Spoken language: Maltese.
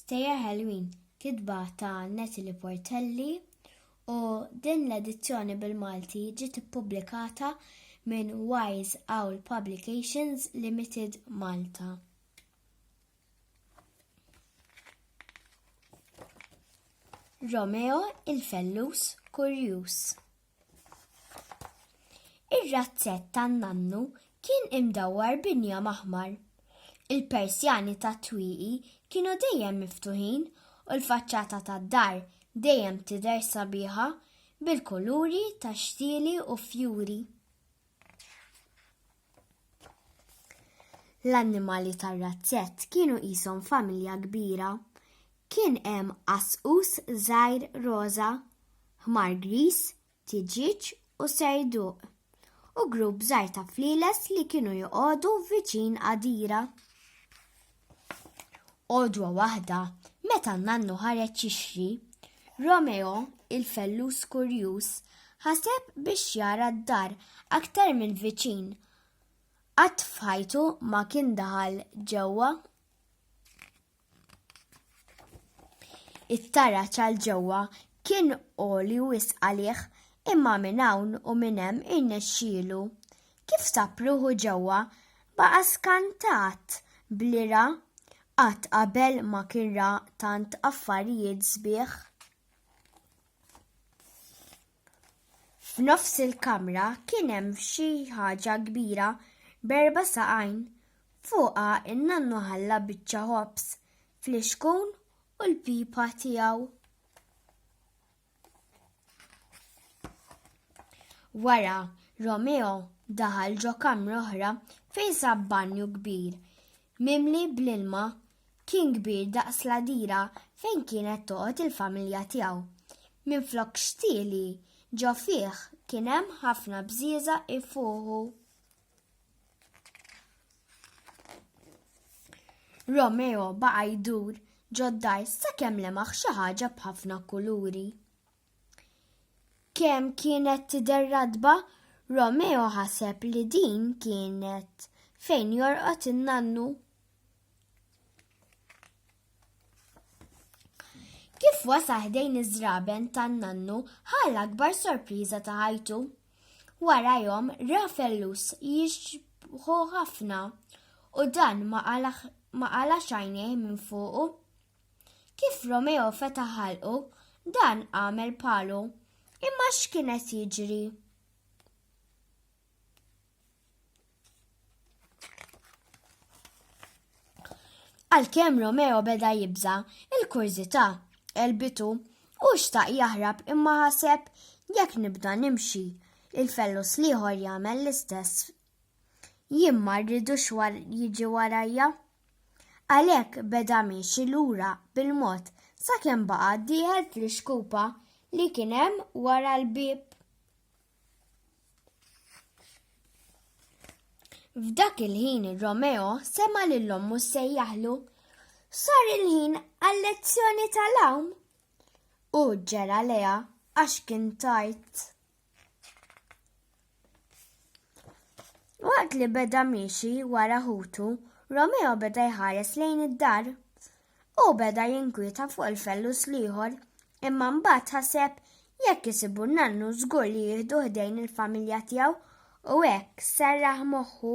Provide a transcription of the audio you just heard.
Stejjer Ħelwin, kitba ta' Natalie Portelli u din l-edizzjoni bil-Malti ġiet ippubblikata minn Wise Owl Publications Limited Malta. Romeo il-fellus kurjuż. Ir-razzett tan-nannu kien imdawwar b'injam aħmar. Il-persjani tat-twieqi kienu dejjem miftuħin u l-faċċata tad-dar dejjem tidher sabiħa bil-kuluri tax-xtieli u fjuri. L-annimali tar-razzett kienu qishom familja kbira. Kien hemm qasqus żgħir roża, ħmar griż, tiġieġ u serduq, u grupp żgħir ta' flieles li kienu joqogħdu viċin għadira. Għodwa waħda, meta n-nannu ħareġ jixri, Romeo, il-fellus kurjuż, ħaseb biex jara d-dar aktar minn viċin. Qatt f'ħajtu ma kien daħal ġewwa. It-tara ċal ġewwa kien oli wisq għalih imma minn hawn u minn hemm irnexxielu. Kif sab ruħu ġewwa, baqa' skantat b'li ra, qatt qabel ma kien ra tant affarijiet sbieħ. F'nofs il-kamra kien hemm xi ħaġa kbira b'erba' saqajn. Fuqha n-nannu ħalla biċċa ħobż, flixkun u l-pipa tiegħu. Wara, Romeo daħal ġo kamra oħra fejn sab banju kbir, mimli bl-ilma kien kbir daqs ladira fejn kienet toqgħod il-familja tiegħu. Minn flok xtieli ġo fih kien hemm ħafna bżieża ifuħu. Romeo baqa' jdur ġoddar sakemm lemaħ xi ħaġa b'ħafna kuluri. Kemm kienet tidher radba, Romeo ħaseb li din kienet fejn jorqod in-nannu. Kif wasa ħdejn iż-żraben tan-nannu ħal akbar sorpriża ta' ħajtu. Wara jom ra fellus jixbħu ħafna u dan ma qala xajnej minn fuqu. Kif Romeo feta ħalqu, dan għamel palu. Imma x'kienet jiġri? Għalkemm Romeo beda jibża, il-kurżità elbitu u xtaq jaħrab imma ħaseb jekk nibda nimxi il-fellus liħor jagħmel l-istess. Jien ma rridux war jiġi warajja. Għalhekk beda miexi lura bil-mod sakemm baqa' dieħel fl-ixkupa li kien hemm wara l-bieb. F'dak il-ħin Romeo sema lil ommu sejjaħlu sar il-ħin għal-lezzjoni tal-għawm u ġera leja għax kien tajt. Waqt li beda miexi wara ħutu, Romeo beda jħares lejn id-dar. Hu beda jinkwieta fuq il-fellus l-ieħor, imma mbagħad ħaseb jekk isibu n-nannu żgur li jieħdu ħdejn il-familja tiegħu u hekk serraħ moħħu.